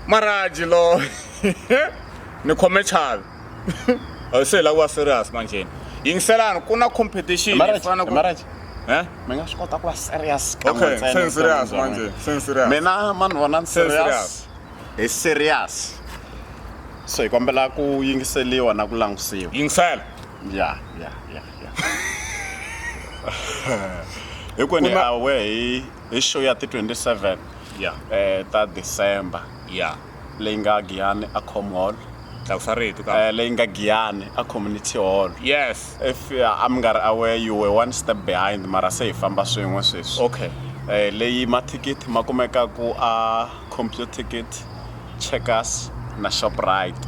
maraji lo ni khome chavi a se hi lava ku va serious manjheni yingiselani ku na competition hi fanele ku Marriage. Eh? mi nga swi kota ku va serious kan'we okay ntsena se ni serious evuton'wini bya manje n'wina. se ni serious mina mani vona ni Se ni serious hi serious so hi kombela ku yingiseliwa na ku langutisiwa yingisela ya ya ya ya hinkwenu Ku hi na- awe hi hi show ya ti 27 ya eh, ta december ya leyi nga giyani a com hall tlakusa rito ka eh, leyi nga giyani a community hall yes if uh, a mi nga ri aware you were one step behind mara se hi famba swin'we sweswi okay eh, leyi mathikithi ma kumeka ku a computer ticket checkers na shoprite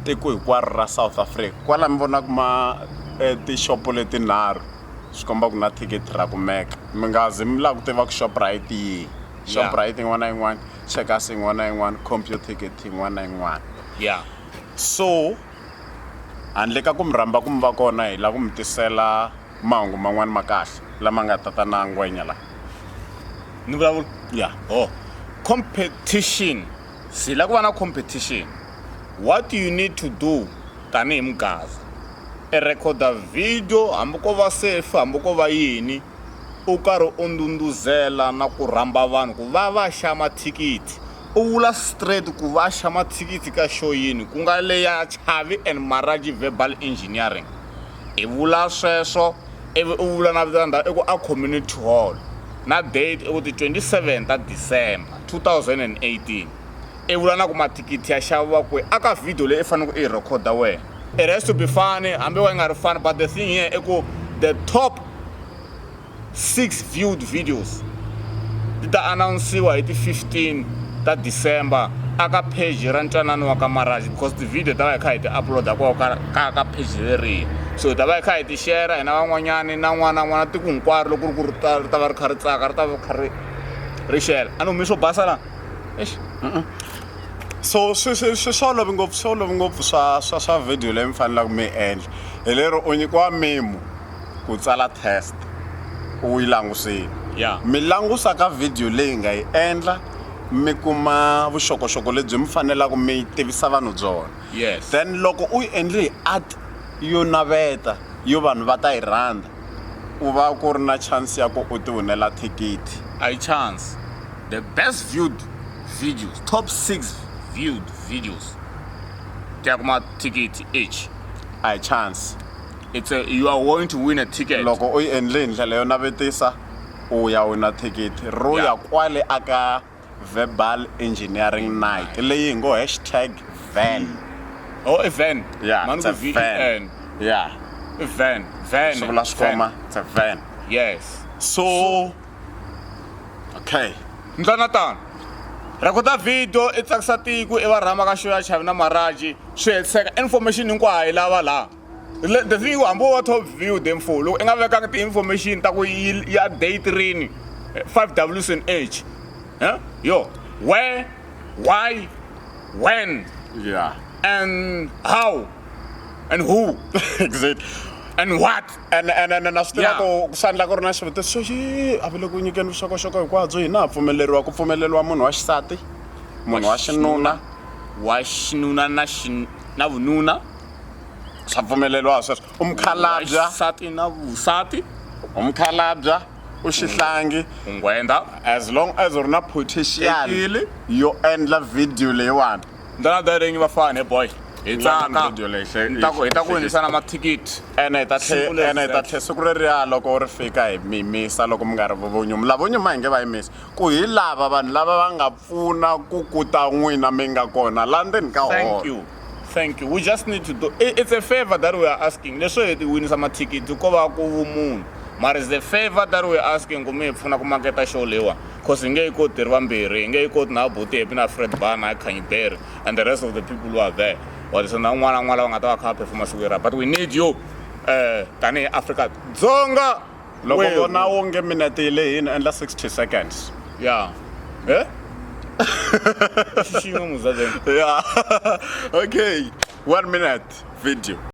tiko hinkwaro ra south africa kwala mi vonaka ma eh, tixopo letinharhu swi komba ku na thikithi ra kumeka mi nga zi mi lava ku tiva ku shoprite yihi shoprite yin'wana na yin'wana checkers yin'wana na yin'wana computicket yin'wana na yin'wana ya so handle ka ku mi rhamba ku mi va kona hi lava ku mi tisela mahungu man'wana ma kahle lama nga ta ta na ngwenya laha ni vulavula ya ho competition Hi la ku va na competition. What you need to do tanihi mugava, i rhekhoda video hambi ko va selfie hambi ko va yini u karhi u ndhundhuzela na ku rhamba vanhu ku va va xa mathikithi. U vula straight ku va xa mathikithi ka show yini, ku nga leya Chavi and Maraji Verbal Engineering. I vula sweswo ivi u vula na vito ra ndhawu i ku a Community Hall na date i ku ti 27 ta December 2018 i vula na ku mathikithi ya xaviwa kwihi a ka video leyi i faneleke i yi rhekhoda wena it has to be funny hambi wa yi nga ri funny but the thing here i ku the top 6 viewed videos ti ta anawunsiwa hi ti 15 ta december aka page ra ntwanano wa ka maraj because ti-video ta va hi kha hi ti uploada ko ka ka page leriya so hi ta va hi kha hi ti shera hina van'wanyani na n'wana n'wana tiko hinkwaro loko ri ku ri ta va ri kha ri tsaka ri ta va kha ri ri shela a ni humi swo basa la exi so swi swi swi swi olovi ngopfu swi olovi ngopfu swa swa swa video leyi mi fanelaka mi endla hi lero u nyikiwa memo ku tsala test u yi langusile ya mi langusa ka video leyi nga yi endla mi kuma vuxokoxoko lebyi mi fanelaka mi tivisa vanhu byona yes then loko u yi endle hi art yo naveta yo vanhu va ta yi rhandza u va ku ri na chance ya ku u ti winela thikithi i chance the best viewed videos top six viewed videos ti ya kuma thikithi each a hi chance it's a, you are going to win a ticket loko u yi endle hi ndlela yo navetisa u ya wina thikithi ro ya yeah. kwale aka verbal engineering night leyi hi ngo hashtag van oh a van yeah, it's a van. yeah a van van swi vula swikhoma it's a van yes so okay ndlana tano rhekhoda video i tsakisa tiko i va rhama ka xo ya chavi na maraji swi hetiseka information hinkwayo hi lava laha the thing hambi wo va top view the mfo loko i nga vekanga ti-information ta ku ya day trini eh, five ws and h eh? yo where why when yeah. and how and who exactly and what and and and na swi tiva ku ku sandla ku ri na xivutiso xo yi a vile ku nyikeni vuxokoxoko hinkwabyo hina ha pfumeleriwa ku pfumeleriwa munhu wa xisati munhu wa xinuna wa xinuna na na vununa swa pfumeleriwa sweswo u mukhalabya xisati na vusati u mukhalabya u xihlangi u nghwenda as long as u ri na potential Ekile. yo endla video leyiwani ndana daringi vafana he boy hi Ndlala tsaka video leyi hle- Ni ta ku- hi ta ku hle- winisa na mathikithi ene hi ta Siku tlhe- leri ene hi ta zeke. tlhe siku reriya loko ri fika hi mi yimisa loko mi nga ri vonyumi lavo nyuma hi nge va yimisi ku hi lava vanhu lava va nga pfuna ku kuta n'wina mi nga kona la ndzeni ka holo thank you thank you we just need to do it's a favor that we are asking leswo hi winisa mathikithi ko va ku vumunhu mara is a favor that we are asking ku mi hi pfuna ku maketa show leyiwa cause hi nge yi koti hi ri vambirhi hi nge yi koti na buti hepi na fred bana hi khanyiberi and the rest of the people who are there wadiso na un'wana un'wana lava nga ta va kha va phefuma siku yera but we need you um tanihi afrika dzonga loko Wena. vona onge minete yi lehini endla 60 seconds ya e xixima muzazeni ya okay one minute video